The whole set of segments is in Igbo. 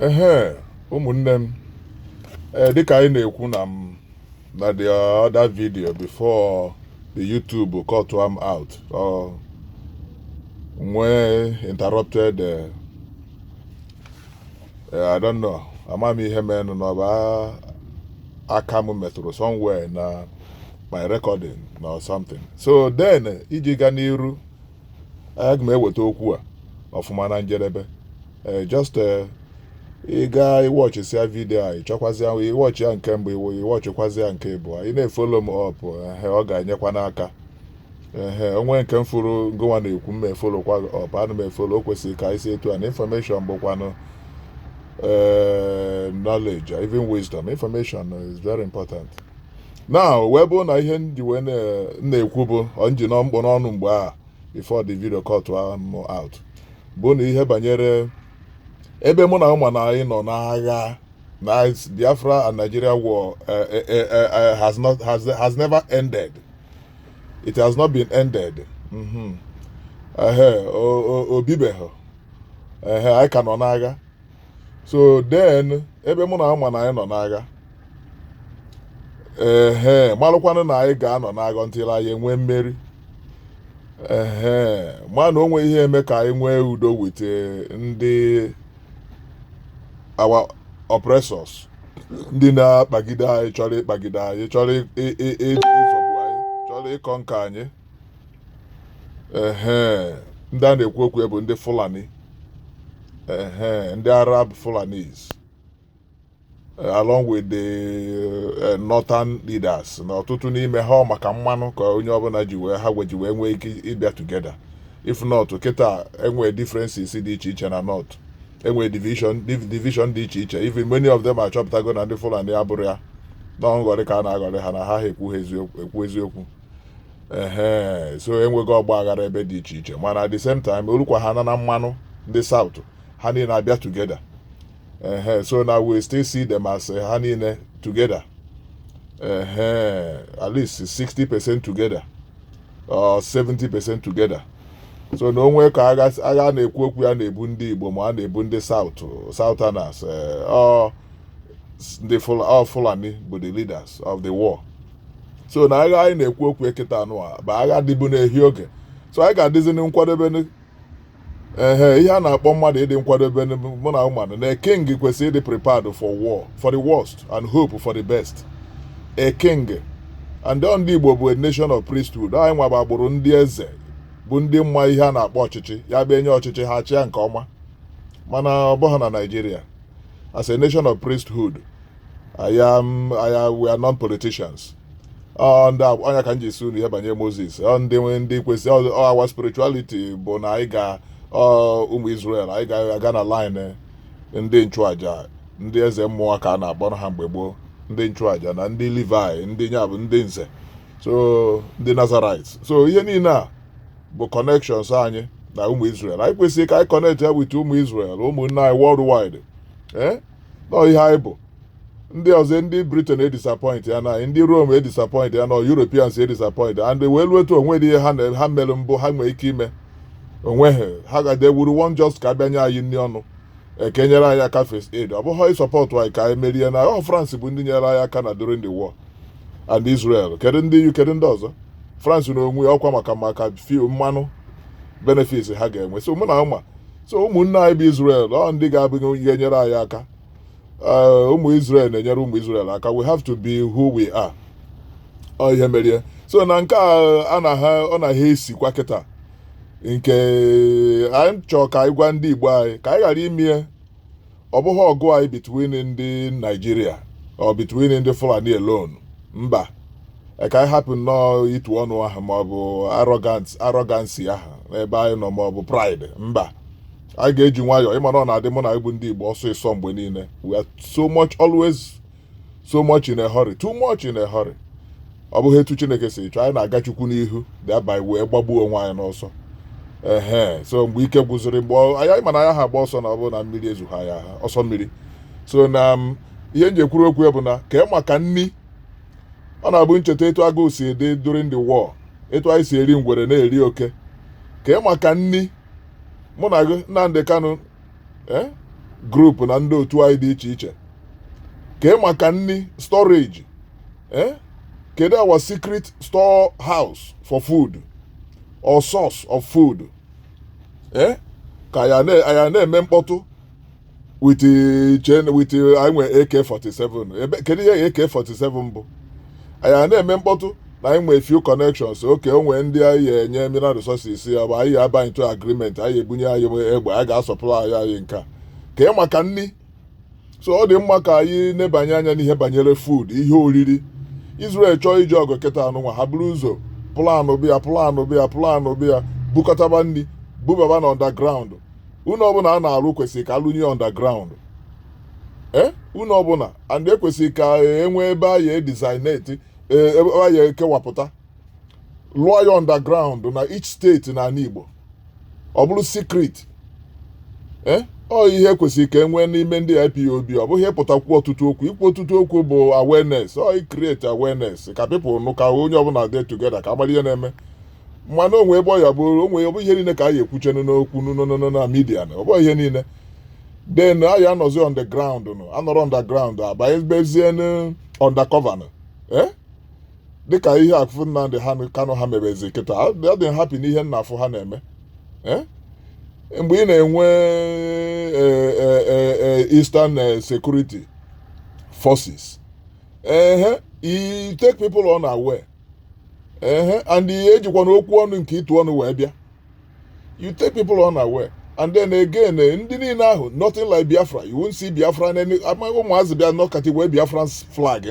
ehe ụmụnne m ee dịka anyị na-ekwu na m na the other video before the YouTube cut am out or wee interrupted eh, eh, I don't know ama m ihe menụ na ọ bụ a- aka m metụrụ somewhere na my recording na or something so then eh, iji gaa n'iru aga m eweta okwu a ọfụma na njedebe ee eh, just ee eh, ị gaa ịwọchịsịa vidio a ịchọkwazịa ịwọchị ya nke mbụ iwu ịwọchịkwazị ya nke ịbụọ ị na-efolo m ọp ehe ọ ga-enyekwa n'aka ehe o nwee nke m fụrụ ngịnwa na-ekwu m efolokwa ọp ana m efolo o kwesịrị ka anyị si etu a na information bụkwanụ eh, knowledge even wisdom information is very important now wee bụrụ na ihe m ji wee na-ekwu bụ m ji nọ m kpụ n'ọnụ mgbe a before the video cut m out bụ na ihe banyere ebe ọ bụ na ị ma na anyị nọ n'agha na Biafra and Nigeria war eh, eh, eh, has not has has never ended it has not been ended mm-hmm. o bibeghị anyị ka nọ n'agha so then ebe ọ bụ na ị ma na anyị nọ n'agha ehe malụkwanụ na anyị ga-anọ n'agha until anyị enwee mmeri ehe mana o nwe ihe e me ka anyị nwee udo with ndị our oppressors ndị na-akpagide anyị chọrọ ịkpagide anyị chọrọ ịzọgbu anyị chọrọ ịconquer anyị ehe ndị a na-ekwu okwu ya bụ ndị fulani ehe ndị arab fulanis eh, along with the eh, northern leaders na ọtụtụ n'ime ha ọ maka mmanụ ka onye ọbụla ji wee ha ji wee nwee ike ịbịa together if not kịta enwee differences dị iche iche na north enwee division div- division dị iche iche even many of them achọpụtago na ndị fulani abụrọ ya na nghọrị ka a na-aghọrị ha na ha ha ekwu ha eziokwu ekwu eziokwu ehe so enwego ọgba aghara ebe dị iche iche mana at the same time o lukwa ha na mmanụ ndị south ha niile abịa together ehe so now we still see them as eh, ha niile together ehe at least 60 percent together or 70 percent together so na o nwe ka agha agha na-ekwu okwu ya na-ebu ndị igbo ma a na-ebu ndị south southerners eh, ọ ndị Fula- ọ fulani bụ the leaders of the war so na agha anyị na-ekwu okwu ya kịta nụ a bụ agha dịbu n'ehi oge so anyị ga-adịzi na nkwadebe ehe ihe a na-akpọ mmadụ ịdị nkwadebe mụ na ị manụ na king kwesịrị ịdị prepared for war for the worst and hope for the best a king and on ndị Igbo bụ a nation of priesthood anyị nwa bụ agbụrụ ndị eze bụ ndị ma ihe a na-akpọ ọchịchị ya bụ e nye ọchịchị ha achịa nke ọma mana ọ bụghị na Nigeria as a nation of priesthood I am, I am, we are non-politicians. Ọ ndị a- ọ nya ka m ji sị unu ihe banyere Moses ọ ndị nwe ndị kwesị ọ ọ our spirituality bụ na anyị ga ọ ụmụ Israel anyị ga-aga na line ndị nchụaja ndị eze mmụọ ka a na-akpọ ha mgbe gboo ndị nchụaja na ndị Levi ndị nya bụ ndị nze so ndị Nazarites so ihe niile a bụ connections anyị na ụmụ Israel anyị kwesịrị ka anyị connect ya with ụmụ Israel ụmụnne anyị worldwide ee nọ ihe anyị bụ ndị ọzọ ndị britain edisappoint ya na ndị rome edisappoint ya na europeans edisappoint and wee luo etu onwe dị ihe ha na ha mere mbụ ha nwee ike ime onwe ha ha gade wuru won just ka a bịa nye anyị nri ọnụ ekenyere anyị aka first aid ọ bụghị ịsupport anyị ka anyị merie na ọ france bụ ndị nyere anyị aka na during the war and israel kedu ndị uk kedu ndị ọzọ france na onwe ọkwa maka maka mmanụ benefits ha ga-enwe so ụmụnna ụma so ụmụnne anyị bụ Israel ọ ndị ga-abụ onye ga-enyere anyị aka eh, ụmụ Israel na-enyere ụmụ Israel aka we have to be who we are ọ ihe merie so na nke a a na ha ọ na ha esikwa kịta nke anyị chọọ ka anyị gwa ndị Igbo anyị ka anyị ghara imie ọ bụghị ọgụ anyị between ndị nigeria or between ndị fulani alone mba ka anyị hapụ nnọọ itu ọnụ ahụ maọbụ arrogancy ahụ n'ebe anyị nọ maọbụ pride mba anyị ga-eji nwayọọ ị ma na ọ na-adị ụmụnna anyị bụ ndị igbo ọsịịsọ mgbe niile we are so much always so much in a hurry too much in a hurry ọ bụghị etu chineke si chọọ anyị na-aga chukwu n'ihu thereby wee gbagbuo onwe anyị n'ọsọ ehe so mgbe ike gwụziri mgbe anyị ma na a yaha agba ọsọ na ọ bụrụ na mmiri ezoha ya ọsọ mmiri so na um, ihe m ji ekwuru okwu bụ na kee maka nni ọ na-abụ m cheta etu agụụ si dị during the war etu anyị si eri ngwere na-eri oke kee maka nni mụ na gị Nnamdi Kanu eh, group na ndị otu anyị dị iche iche kee maka nni storage eh, kedu our secret store house for food or source of food eh, ka anyị na-eme mkpọtụ with chen with anyị nwere AK47 ebe kedu ihe AK47 bụ anyị a na-eme mkpọtụ na anyị nwee few connections okay o nwee ndị anyị ya enye mineral resources ya bụ anyị ya aba into agreement anyị ebunye anyị egbe anyị ga-asọpụrụ anyị anyị nke a ka ị maka nri so ọ dị mma ka anyị nebanye anya n'ihe banyere food ihe oriri Israel chọọ ije ọgụ kịta nụnwa ha buru ụzọ planụ bịa planụ bịa planụ bịa bukọtaba nri bubaba na underground ụlọ ọbụla a na-arụ kwesịrị ka alụnye underground ee eh? ụlọ ọbụla and ekwesịrị ka enwee ebe a ya edesignate eh, ebe a ya ekewapụta lụọ ya underground na each steeti n'ala Igbo ọ bụrụ secret eh, ọ ihe kwesịrị ka enwee n'ime ndị IPOB ọ bụghị ịpụta kwuo ọtụtụ okwu ikwu ọtụtụ okwu bụ awareness ọ i create awareness ka people nụ ka onye ọbụla dị together ka a mara ihe na-eme mana o nwe ebe ọ ya bụrụ o nwe ọ bụghị ihe niile ka a ya ekwuchanụ n'okwu n'ụnụnụ na media na ọ bụghị ihe niile then anyị anọzi underground nụ anọrọ underground abanyebezie n'undercover nụ eh? dịka ihe afụ Nnamdi Kanu ha mebezi kịta adị happy n'ihe nna afụ ha na-eme eh? mgbe ị na-enwe eh, Eastern Security Forces ehe you take people unaware ehe and ejikwana okwu ọnụ nke ịtụ ọnụ wee bịa you take people unaware and then again eh, ndị niile ahụ nothing like Biafra you won't see Biafra ụmụazị bịa nọkati wee Biafran flag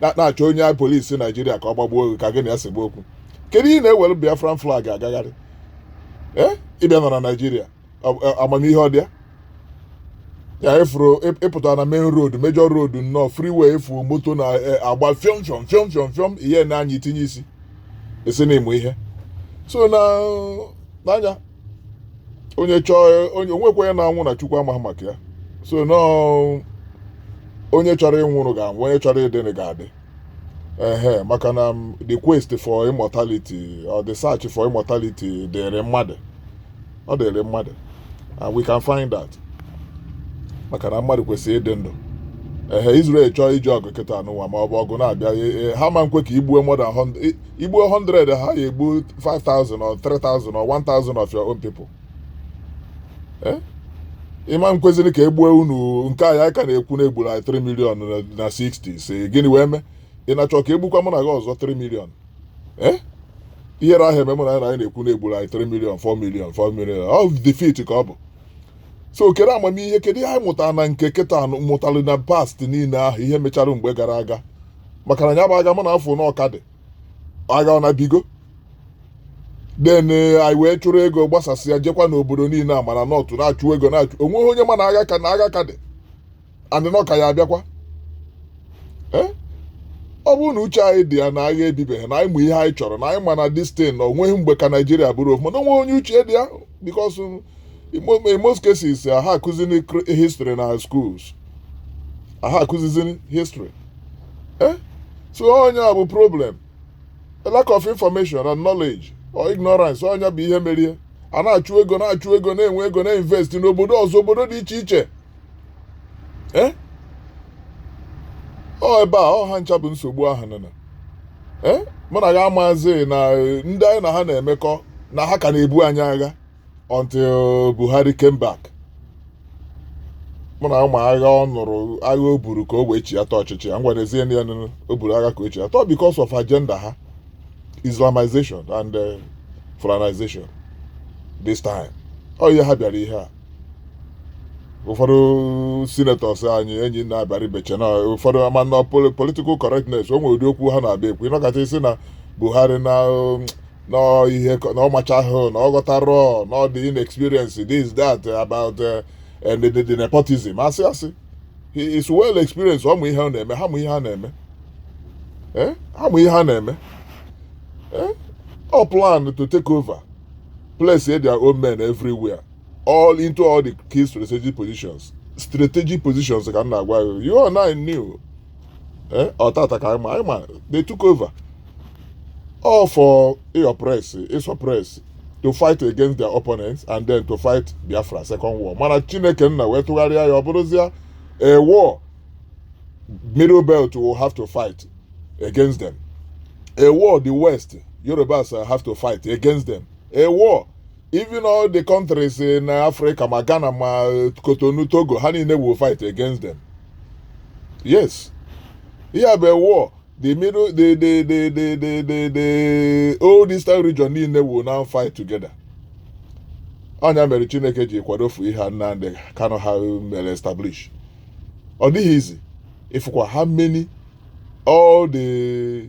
na-achọ onye police Nigeria ka ọ gbagbuo gị ka gị na ya segbu okwu kedu ihe ị na-ewere Biafran flag agagharị ee eh? ị bịa nọ na Nigeria amamihe ọ dị ya ya ị fụrụ ị pụta na main road major road nnọọ freeway ị fụ moto na-agba e, fiọm fiọm fiọm fiọm fiọm ị ya na-anya i tinye isi isi n'ime ihe so na na-anya onye chọọ onye o nwekwa onye na-anwụ na chukwu amaghị maka ya so nọọ onye chọrọ ịnwụrụ ga-anwụ onye chọrọ ịdịnị ga-adị ehe maka na the quest for immortality or the search for immortality dịrị mmadụ ọ dịrị mmadụ and we can find that maka na mmadụ kwesịrị ịdị ndụ ehe Israel chọọ ije ọgụ kịta nụnwa ma ọ bụ ọgụ na-abịa e- e- ha ma nkwe ka i gbuo more than 100 i- i gbuo 100 ha ya egbu 5000 or 3000 or 1000 of your own people eh? ị ma nkwezinị ka e gbuo unu nke anyị ka na-ekwu na egburu anyị 3 million na 60s gịnị wee mee ị na-achọ ka egbukwa mụ na gị ọzọ 3 million eh? ihere ahụ eme mụ na anyị na-ekwu na egburu anyị 3 million 4 million 4 million ọ defeat ka ọ bụ so kere amamihe kedu ihe anyị mụtara na nke kịta mụtara na past niile ahụ ihe mechara mgbe gara aga maka na ya bụ agha mụ na-afụ na ọ ka dị agha ọ na ebigo then eh, anyị wee chụrụ ego gbasasịa jekwa n'obodo niile a mana nọtụ na-achụ ego na-achụ o nweghị onye ma na agha ka na agha ka dị and na ọ ka ya-abịakwa Eh? ọ bụrụ na uche anyị dị ya na agha ebibeghị na anyị ma ihe anyị chọrọ na anyị ma na distin na o nweghị mgbe ka Nigeria bụrụ ofu mana o nweghị onye uche dị ya because in most cases ha akụzini history na schools ha akụzizini history Eh? so ọ nya bụ problem a lack of information and knowledge or ignorance ọ nya bụ ihe mere a na-achụ ego na-achụ ego na-enwe ego na-invest n'obodo ọzọ obodo dị iche iche Eh? ọ ebe a ọ ha ncha bụ nsogbu ahụ nọ na Eh? mụ na gị amazi na eh, ndị anyị na ha na-emekọ na ha ka na-ebu anyị agha until Buhari came back mụ na ụmụ agha ọ nụrụ agha o buru ka o wee chiata ọchịchị a ngwa n'ezie na ya nụrụ o buru agha ka o chiata because of agenda ha Islamization and uh, Fulanization this time ọ ihe ha bịara ihe a ụfọdụ senators anyị enyi na-abịara ibeche na ụfọdụ ama na poli- political correctness o nwere ụdị okwu ha na-abịa ekwu ị nọkata ị sị na Buhari na um, na ọ ihe ka- na ọ machahụ na ọ ghọtarọ na ọ dị inexperience this that about uh, and the, the, the nepotism asị asị he is well experienced ọ ma ihe ọ na-eme ha ma ihe ha na-eme Eh? ha ma ihe ha na-eme Eh? ọ plan to take over place their own men everywhere all into all the key strategic positions strategic positions ka m na-agwa gị you and I knew ee ọ taata ka anyị ma anyị ma they took over all for ị oppress ị suppress to fight against their opponents and then to fight Biafra second war mana Chineke nna wee tụgharịa ya ọ bụrụzia a war middle belt will have to fight against them a war the west Yorubas have to fight against them a war even all the countries in africa ma ghana ma Cotonou Togo ha niile will fight against them yes ihe a bụ a war the middle the the the the the the, the old eastern region niile will now fight together ọ nya mere chineke ji kwadofu ihe a Nnamdi Kanu ha mere establish ọ dịghị easy ị fụkwa how many all the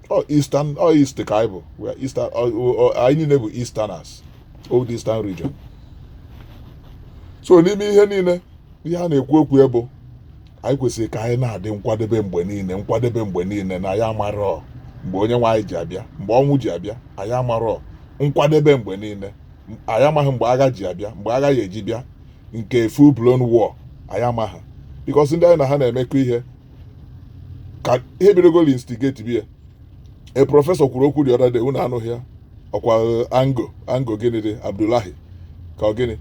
ọ eastern ọ east ka anyị bụ we are eastern ọ- ọ- ọ- anyị niile bụ easterners old eastern region so n'ime ihe niile ihe a na-ekwu okwu ya bụ anyị kwesịrị ka anyị na-adị nkwadebe mgbe niile nkwadebe mgbe niile na anyị amarọ mgbe onye nwe anyị ji abịa mgbe ọnwụ ji abịa anyị amarọ nkwadebe mgbe niile M- anyị amaghị mgbe agha ji abịa mgbe agha ya-eji bịa nke full blown war anyị amaghị because ndị anyị na ha na-emekọ ihe ka ihe bidogolo instigatiba a professor kwuru okwu the other day unu anụghị ya ọkwa eh, ango ango gịnị dị abdullahi ka ọ gịnị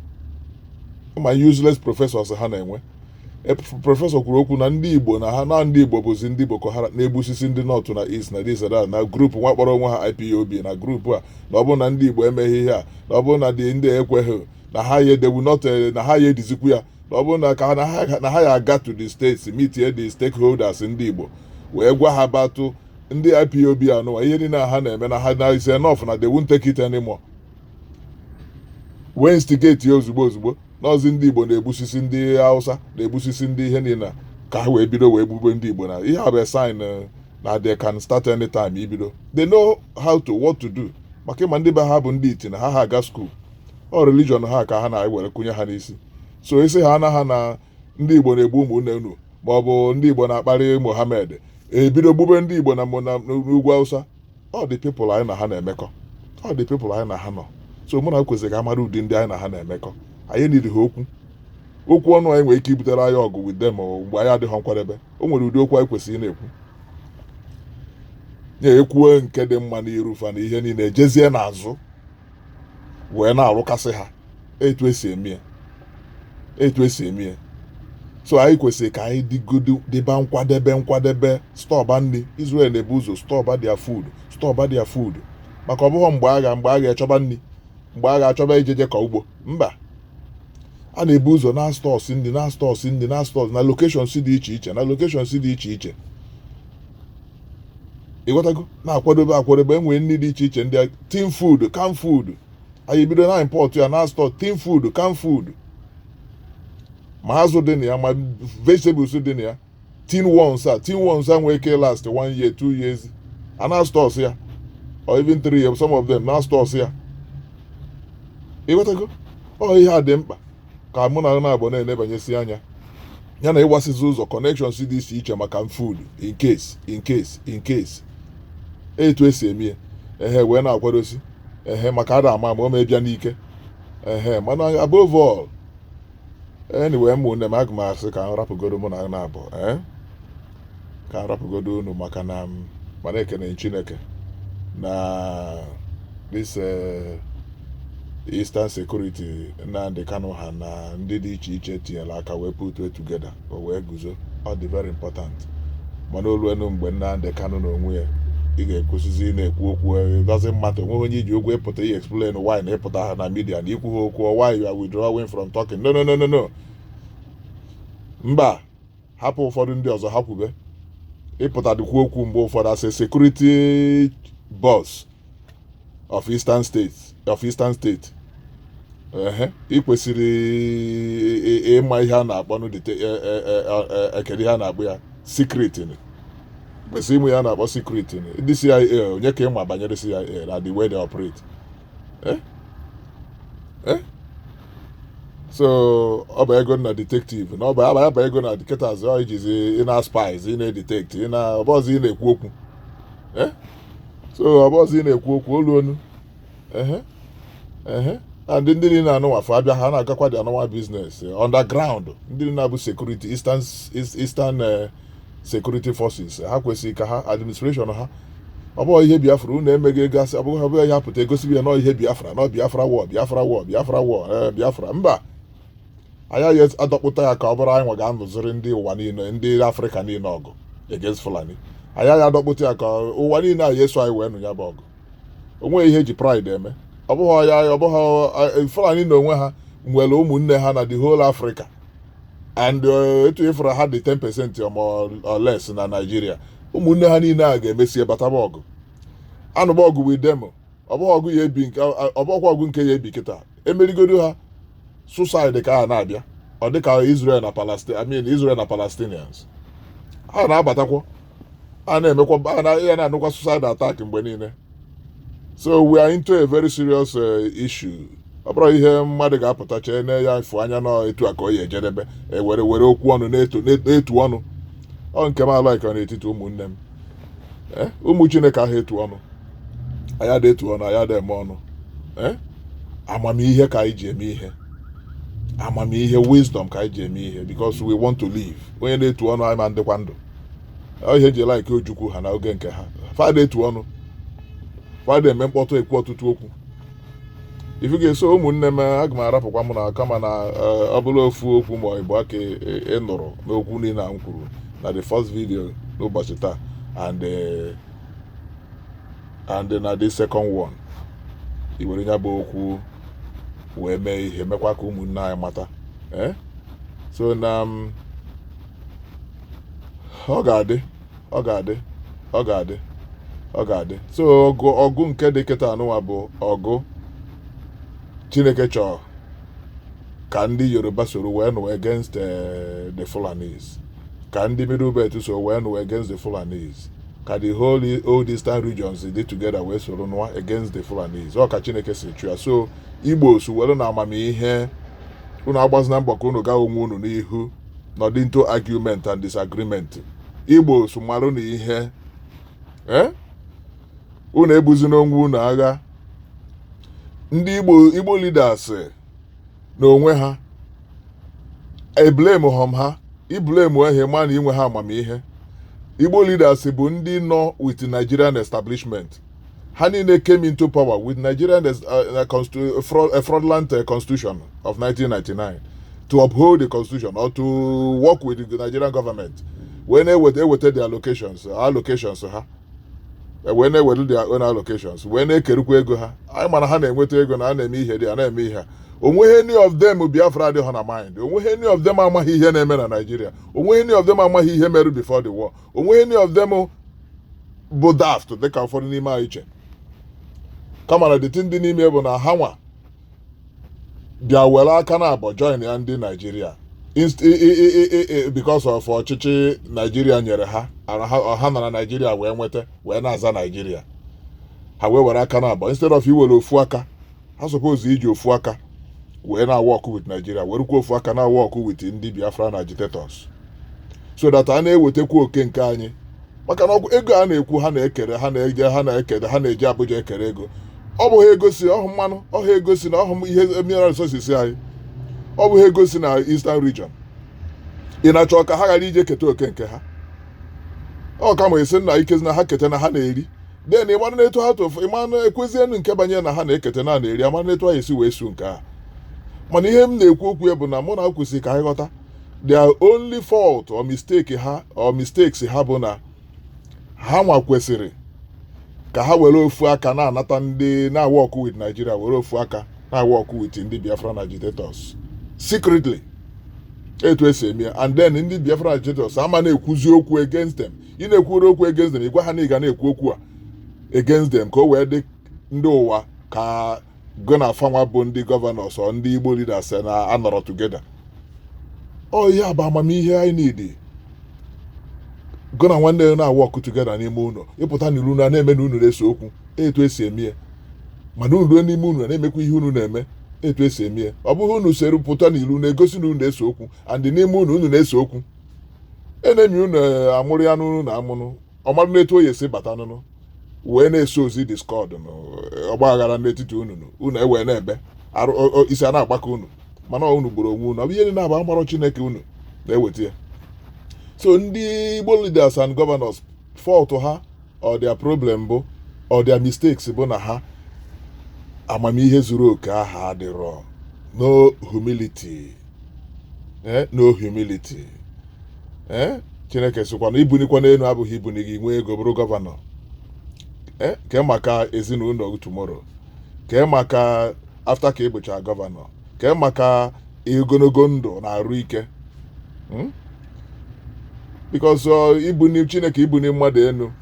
ma useless professors ha na-enwe E, pr- professor kwuru okwu na ndị igbo na ha na ndị igbo bụzi ndị boko haram na-egbusisi ndị north na east na this and that na group nwa kpọrọ onwe ha ipob na group a na ọ bụrụ na ndị igbo emeghị ihe a na ọ bụrụ na dị ndị ekweghị na ha ya the whole north eh, na ha ya edizikwu ya na ọ bụrụ na ka na ha na ha ya aga to the states mitie the stakeholders ndị Igbo wee gwa ha about ndị IPOB anụwa ihe niile a ha na-eme na ha na is enough na they won't take it anymore wee instigate ya ozugbo ozugbo n'ọzi ndị Igbo na-egbusisi ndị Hausa na-egbusisi ndị ihe niile a, ka ha wee bido wee gbube ndị Igbo na ihe a bụ a sign eh, na they can start anytime ibido they know how to what to do maka ị ma ndị be ha bụ ndị iti na ha ha aga school ọ religion ha ka ha na-ewere kụnye ha n'isi so ị sị ha na ha na ndị igbo na-egbu ụmụnne unu ma ọ bụ ndị igbo na-akparị mohammed ebido gbube ndị igbo na n'ugwu awụsa ọ the people anyị na ha na-emekọ ọ the people anyị na ha nọ so mụ na kwesịrị ka a mara ụdị ndị anyị na ha na-emekọ anyị niri ha okwu okwu ọnụ anyị nwere ike ibutere anyị ọgụ with them mgbe anyị adịghị nkwadebe o nwere ụdị okwu anyị kwesịrị na-ekwu ekwuo nke dị mma n'iru fa na ihe niile jezie n'azụ wee na-arụkasị ha etu esi eme ya etu esi eme ya so anyị kwesịrị ka anyị dịgodo dịba nkwadebe nkwadebe stọba nri Israel na-ebu ụzọ stọba their food stọba their food maka ọ bụghị mgbe agha mgbe agha a chọba nri mgbe agha a chọba ijeje kọọ ugbo mba a na-ebu ụzọ na-astọsi nri na-astọsi nri na-astọsi na locations dị iche iche na locations dị iche iche ịghọtago na-akwadobe akwadobe e nwee nri dị iche iche ndị tin food can food anyị bido na-import ya na-store tin food can food ma azụ dị na ya ma vegetables dị na ya tin ones a tin ones a nwee ike last one year two years a na-astọsi ya or even three years some of them na-astọsi ya ịghọtago ọ ihe a dị mkpa ka mụ na na-abụ na-elebanyesi anya ya na ịgbasizi ụzọ connections dị iche iche maka food in case in case in case etu esi eme ya ehe wee na-akwadosi ehe maka ada ama ma o mee bịa n'ike ehe mana above all anyway ụmụnne m aga m asị ka m rapụgoro mụ na na-abụ ee ka m rapụgodo unu maka na m mana ekene chineke na this eh, eastern security nnamdi kanu ha na ndị dị iche iche tinyere aka wee put it together o wee guzo ọ dị very important mana o luenu mgbe nnamdi kanu na onwe ya ị ga-akwụsịzi ịna-ekwu okwu eh, it doesn't matter o nweghị onye i ji ụgwọ ịpụta ihe explain why na ị pụtaha na media na i kwuha okwu or why you are withdrawing from talking no no no no no mba hapụ ụfọdụ ndị ọzọ ha kwube ịpụta dịkwu okwu mgbe ụfọdụ as a security boss of eastern state of eastern state ị kwesịrị ịma ihe a na-akpọnụ e, e, e, kedụ ihe a na-akpọ ya secret ị kwesịrị ịma ihe a na-akpọ secret ndị CIA onye ka ị ma banyere CIA na the way they operate Eh? Eh? so ọ bagodu na detective na ọ bagodu na detectives ọ ijizi ị na spies ị na-edetect ọ bụrọzị ị na-ekwu okwu Eh? so ọ bụrọzị ị na-ekwu okwu ọnụ ọnụ ehe ehe and ndị ndị niile anụwa afụ abịa ha na-agakwa dị anụwa business underground ndị niile a bụ security eastern eastern eh, security forces ha kwesịrị ka ha administration ha ọ bụghị ihe biafra unu emeghị ego asị ọbụghị ọbụghị ihe apụta egosibi ya na ọ ihe biafra na ọ biafra war biafra war biafra war ee biafra mba anyị ya-adọkpụta ya ka ọ bụrụ anyị nwa ga-anụziri ndị ụwa niile ndị afrịka niile ọgụ against fulani anyị ya-adọkpụta ya ka ụwa niile ya-eso anyị wee nụ ya bụ ọgụ o nweghị ihe e ji pride eme ọ bụghị ya ọ bụghị fulani na onwe ha nwere ụmụnne ha na the whole africa and eh, etu ị fụrụ ha dị 10% or more or less na Naịjirịa ụmụnne ha niile a ga-emesie bataba ọgụ anụba ọgụ with them ọ bụghị ọgụ ya-ebi nke ọ bụghịkwa ọgụ nke ya-ebi kịta emerigodo ha suicide ka ha na-abịa ọ dịka Israel na Palestine I mean Israel na Palestinians ha na-abatakwa a na-emekwa ya na-anụkwa suicide attack mgbe niile so we are into a very serious eh, issue ọ bụrọ ihe mmadụ ga-apụta chee na ya mfu anya na etu a ka ọ ya-ejedebe were okwu ọnụ na-etu ọnụ ọ nke m alaika n'etiti ụmụnne m eh, ụmụ chineke ahụ etu ọnụ anyị adị etu ọnụ anyị adị eme ọnụ eh, amamihe ka anyị ji eme ihe amamihe wisdom ka anyị ji eme ihe because we want to live onye na-etu ọnụ ama adịkwa ndụ Ọ ihe e ji like Ojukwu ha na oge nke ha fa ada etu ọnụ fa ada eme mkpọtụ ekwu ọtụtụ okwu ị fụgo so ụmụnne m aga m arapụkwa m na kama na eh, ọ bụrụ ofu okwu ma ịbụa ka ị nụrụ n'okwu niile a m kwuru na the first video n'ụbọchị taa and eh, and na the second one i were ya bụ okwu wee mee ihe mekwa ka ụmụnne anyị mata eh? so na m ọ ga-adị ọ ga-adị ọ ga-adị ọ ga-adị so ọgụ ọgụ nke dị kịta anụwa bụ ọgụ chineke chọọ ka ndị yoruba soro wee nụ against eh, the fulanis ka ndị middle belt so wee nụ against the fulanis ka the whole old eastern regions dị together wee soro nụwa against the fulanis ọ ka chineke si chọọ ya so igbo so were na amamihe unu agbazina mbọ ka unu gaa onwe unu n'ihu nọdụ into argument and disagreement igbo so marụ na ihe eh? unu ebuzina onwe unu agha ndị igbo igbo leaders eh, n'onwe ha eblamehọ m ha iblame ehe mana inwe ha amamihe igbo leaders bụ ndị nọ with nigerian establishment ha niile came into power with Nigerian uh, uh, uh, fraud, uh, fraudulent uh, constitution of 1999 to uphold the constitution or to work with the Nigerian government wee na-eweta eweta their allocations allocations ha wee na-eweta their own allocations wee na-ekerukwa ego ha anyị ma na ha na-enweta ego na a na-eme ihe dị a na-eme ihe ha onweghị any of them Biafra adịghị na mind onweghị any of them amaghị ihe na-eme na Nigeria onweghị any of them amaghị ihe mere before the war onweghị any of them bụ daft dịka ụfọdụ n'ime anyị che kama na dịtị ndị n'ime bụ na ha nwa bịa were aka na abọ join ya ndị naijiria because of ọchịchị naijiria nyere ha ha nọ na naijiria wee nweta wee na-aza naijiria ha wee were aka na abọ instead of iwere ofu aka ha suppose iji ofu aka wee na-awork with naijiria werukwa ofu aka na-awork with ndị biafran agitators so that a na-ewetakwu oke nke anyị maka na ego a na-ekwu ha na-ekere ha na-eje ha na-ekere ha na-eje abuja ekere ego ọ bụhọ ego si ọhụ mmanụ ọhụ ego si na ọhụ ihe mineral resources anyị ọ bụhọ ego si na eastern region ị na-achọ ka ha ghara ije keta oke nke ha ọ kama esi na ike na ha keta na ha na-eri then ịmara na etu ha tofu ịmara na ekwezienụ nke banyere na ha na-eketa na na-eri amara na etu ha esi wee su nke a mana ihe m na-ekwu okwu ya bụ na mụ na ha kwesịrị ka anyị ghọta their only fault or mistake ha or mistakes ha bụ na ha nwa kwesịrị ka ha were ofu aka na-anata ndị na-awork with Nigeria were ofu aka na-awork with ndị Biafran agitators secretly etu esi eme ya and then ndị Biafra agitators ama na-ekwuzi okwu against them ị na-ekwuru okwu against them ị gwa ha na ị ga na-ekwu okwu a against them ka o wee dị ndị ụwa ka gụ na fanwa bụ ndị governors or ndị igbo leaders na anọrọ together ọ ihe a bụ amamihe anyị need gụ na nwanne ya na-awork together n'ime ụlọ ị pụta n'iru na na-eme na unu na-ese okwu etu esi eme ya mana unu ruo n'ime unu na-emekwa ihe unu na-eme etu esi eme ya ọ bụghị unu sere pụta n'iru na-egosi na unu na-ese okwu and n'ime unu unu na-ese okwu enemy unu eh, amụrụ ya n'unu na amụnụ ọ marụ n'etu ọ ya-esi bata n'unu wee na-esowzi discord na eh, ọgba aghara n'etiti unu nụ, unu ewee na-ebe arụ o- o- isi a na-agbaka unu mana unu gburu onwe unu ọ bụ ihe niile abụ amarọ chineke unu na-eweta ya so ndị igbo leaders and governors fault ha or their problem bụ or their mistakes bụ na ha amamihe zuru oke aha adịrọ no humility eh, no humility eh, chineke sịkwa na ibunikwa n'elu abụghị ibuni gị nwee ego bụrụ gọvanọ eh, kee maka ezinụlọ tomorrow kee maka after ka ị bụcha gọvanọ kee maka ogologo ndụ na arụ ike hmm? because uh, ibuni chineke ibuni mmadụ enu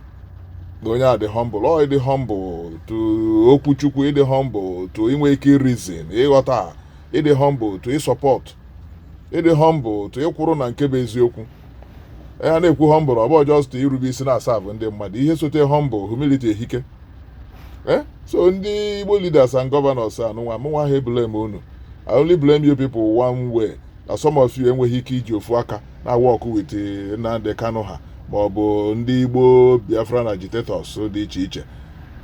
na onye a dị humble ọ ịdị humble to okwu chukwu ịdị humble to inwe ike reason ịghọta ịdị humble to ịsupport ịdị humble to ịkwụrụ na nke bụ eziokwu e, a na-ekwu humble ọ bụ just irube isi na-aserve ndị mmadụ ihe sote humble humility ehike eh? so ndị Igbo leaders and governors anụnwa mụnwa ha blame unu I only blame you people one way na some of you enweghị ike iji ofu aka na work with eh, Nnamdi Kanu ha ma ọ bụ ndị Igbo Biafran agitators dị iche iche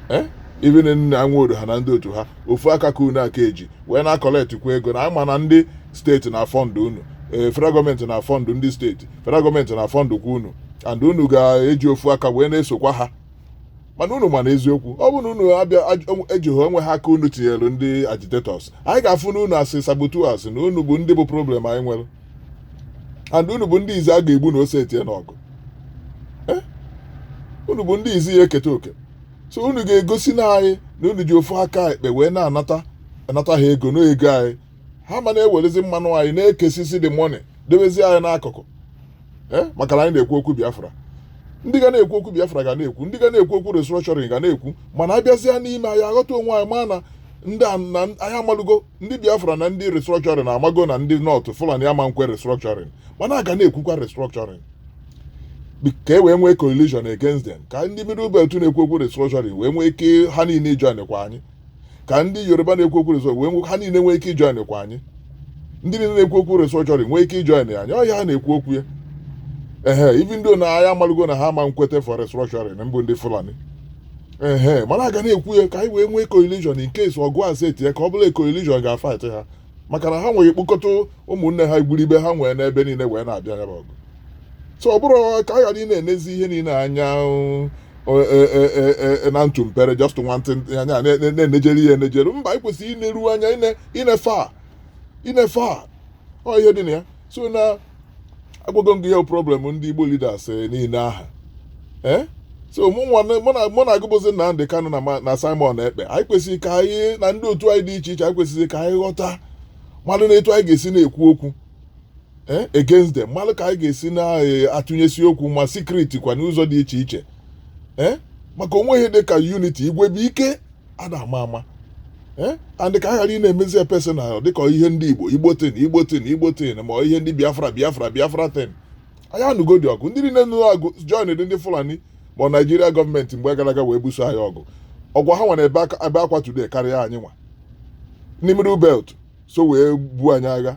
eh? even Nnia Nwodo ha na ndị otu ha ofu aka ka unu aka eji wee na-acollect kwa ego na anyị ma na ndị steeti na-afund unu ee federal gọọmenti na-afund ndị steeti federal gọọmenti na-afund kwa unu and unu ga-eji ofu aka wee na-esokwa ha mana unu ma na eziokwu ọ bụrụ na unu abịa aj- ejighị onwe ha aka unu tinyere ndị agitators anyị ga-afụ na unu as saboteurs na unu bụ ndị bụ problem anyị nwere and unu bụ ndị izi a ga-egbu na o setie n'ọgụ Eh? unu bụ ndị izi ya eketa oke so unu ga-egosi na anyị na unu ji ofu aka ekpe wee na-anata anata ha ego n'ego anyị ha ama na-ewerezi mmanụ anyị na-ekesisi the money debezi anyị n'akụkụ eh, maka na anyị na-ekwu okwu Biafra ndị ga na-ekwu okwu Biafra ga na-ekwu ndị ga na-ekwu okwu restructuring ga na-ekwu mana a bịazịa n'ime anyị aghọta onwe anyị ma na ndị na anyị amalugo ndị Biafra na ndị restructuring amago na ndị North Fulani ama nkwe restructuring mana a ga na-ekwukwa restructuring ka e wee nwee coalition against them ka ndị middle belt na-ekwu okwu restructuring wee nwee ike ha niile ijoin kwa anyị ka ndị yoruba na-ekwu okwu restructuring wee nwee ha niile nwee ike ijoin kwa anyị ndị niile na-ekwu okwu restructuring nwee ike ijoin anyị ọ ya ha na-ekwu okwu ya ehe even though na anyị amalugo na ha ama nkweta for restructuring mbụ ndị fulani ehe mana a ga na-ekwu ya ka anyị wee nwee coalition in case ọgụ a seti ya ka ọ bụla coalition ga-afight ha maka na ha nwere ike kpokọta ụmụnne ha igwuribe ha nwere n'ebe niile wee na-abịa ya bụ ọgụ so ọ bụrụ ka a ghara ịna-enezi ihe niile anya ọ, e, e, e, e, e, na ntụ mpere just nwantị anya na- na- na-enejere ya enejere mba anyị kwesịrị ịneru anya ine- inefe a inefe a ọ ihe dị na ya so na agwago m gị ya problem ndị Igbo leaders eh, niile aha eh? so mụ na-agwa bụzi Nnamdi Kanu na Simon Ekpa anyị kwesịrị ka anyị na ndị otu anyị dị iche iche anyị kwesịrị ka anyị ghọta mmadụ na etu anyị ga-esi na-ekwu okwu Eh, against them malụ ka anyị ga-esi na-atụnyesi eh, okwu ma secret kwa n'ụzọ dị iche iche eh, maka o nweghị ihe dị ka unity igwe bụ ike ada ama ama Eh? and ka a ghara ị na-emezi ya personal dịka ihe ndị igbo igbo thing igbo thing igbo thing ma ọ ihe ndị biafra biafra biafra thing anyị anụgo dị ọgụ ndị niile nụrụ ọgụ join dị ndị fulani ma ọ naijiria gọọmenti mgbe gara aga wee buso anyị ọgụ ọkwa ha nwa na-ebe aka- ebe akwa today karịa anyị nwa ndị middle belt so wee buo anyị agha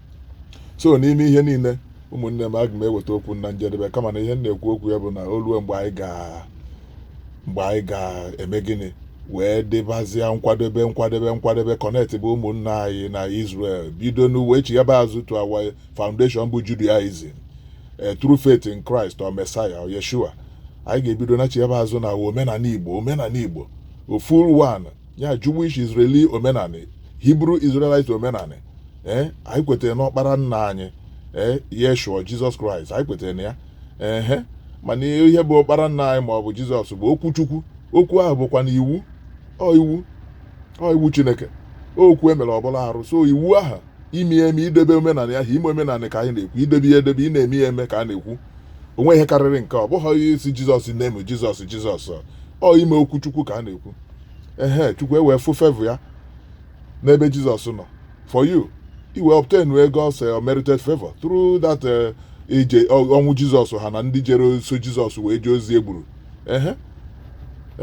so n'ime ihe niile ụmụnne m aga m eweta okwu na njedebe kama na ihe m na-ekwu okwu ya bụ na o ruo mgbe anyị ga mgbe anyị ga-eme gịnị wee dịbazịa nkwadebe nkwadebe nkwadebe connect bụ ụmụnna anyị na Israel bido wee chighaba azụ to our foundation bụ Judaism eh, through faith in Christ or Messiah or Yeshua anyị ga-ebido na chighaba azụ na omenanị Igbo omenanị Igbo full one ya Jewish Israeli omenanị Hebrew Israelite omenanị ee eh, anyị kwetara n'ọkpara nna anyị ee eh, Yeshua Jizọs Kraịst anyị kwetara na ya ehe mana ihe bụ ọkpara nna anyị ma ọ bụ Jizọs bụ okwu Chukwu okwu ahụ bụkwanụ iwu ọ iwu ọ iwu Chineke okwu e mere ọ bụrụ arụ so iwu ahụ ime ya eme idebe omenanị ahụ ime omenanị ka anyị na-ekwu idebe ya edebe ị na-eme ya eme ka a na-ekwu o nwe ihe karịrị nke ọ bụghị ị sị jizọs na-eme jizọs jizọs ọ ime okwu chukwu ka a na-ekwu ehe chukwu ewee fụ favor ya n'ebe jizọs nọ for you i wee obtain God's eh, unmerited favor through that eh, ije ọnwụ jizọs ha na ndị jere so jizọs wee jee ozi egburu ehe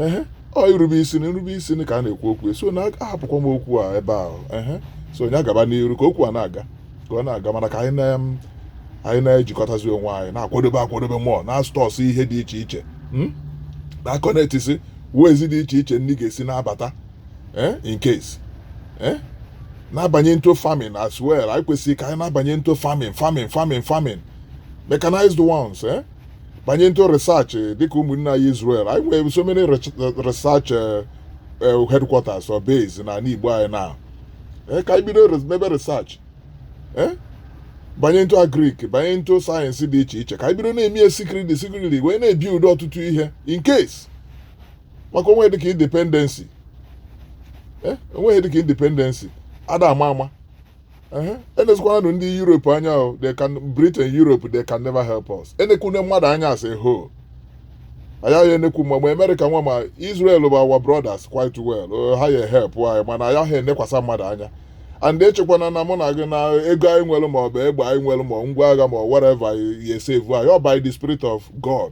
ehe ọ irube isi na irube isi na ka a na-ekwu okwu so na ahapụkwa m okwu a ebe ahụ ehe so onye agaba n'iru ka okwu a na-aga ka ọ na-aga mana ka anyị na anyị na-ejikọtazi onwe anyị na-akwadobe akwadobe mụọ na-astọsị ihe dị iche iche hmm? na-aconnectisi ways dị iche iche ndị ga-esi na-abata eh, in case eh? na-abanye into farming as well anyị kwesịrị ka anyị na-abanye into farming farming farming farming mechanized ones eh? banye into research dịka ụmụnne anyị Israel anyị nwee so many research eh, eh, headquarters or base na anị Igbo anyị na eh, ka anyị bido mebe research banye into agrik banye into sayensị dị iche iche ka anyị bido na-eme ya secretly secretly wee na-ebuild ọtụtụ ihe in case maka o nwee dịka independency o nwee ihe dịka independency ada ama ama enezikwananụ ndị Europe anya they can Britain Europe they can never help us enekwune mmadụ anya asịhọ ayaghị enekwu ma ma America nwa ma Israel bụ our brothers quite well oh, ha ya help anyị mana ayaghị enekwasa mmadụ anya and echekwana na mụ na gị na ego anyị nwere ma ọ bụ egbe anyị nwere ma ngwa agha ma whatever ya save anyị ọ by the spirit of God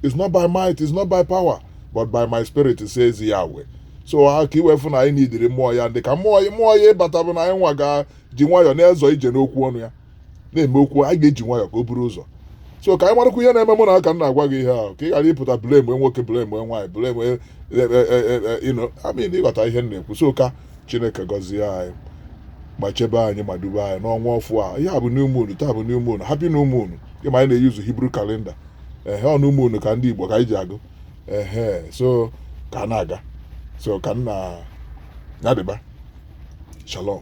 it's not by might it's not by power but by my spirit says Yahweh so ka ị wee fụ na anyị nidiri mmụọ ya ndị ka mmụọ ya mmụọ ya ịbata bụ na anyị nwa ga ji nwayọọ na-ezọ ije n'okwu ọnụ ya na-eme okwu anyị ga-eji nwayọọ ka o buru ụzọ so ka anyị marakwa ihe na-eme mụ na aka m na-agwa gị ihe ahụ ka ị ghara ịpụta blame nwoke blame nwaanyị blame e, e, e, you know I mean ị ghọta ihe m na-ekwu so ka Chineke gọzie anyị ma chebe anyị ma dube anyị n'ọnwa ọfụ a ihe a bụ new moon taa bụ new moon happy new moon ị ma anyị na-eyuzu Hebrew calendar ehe ọ new moon ka ndị Igbo ka anyị ji agụ ehe so ka a na-aga so ka nna ya dịba shalom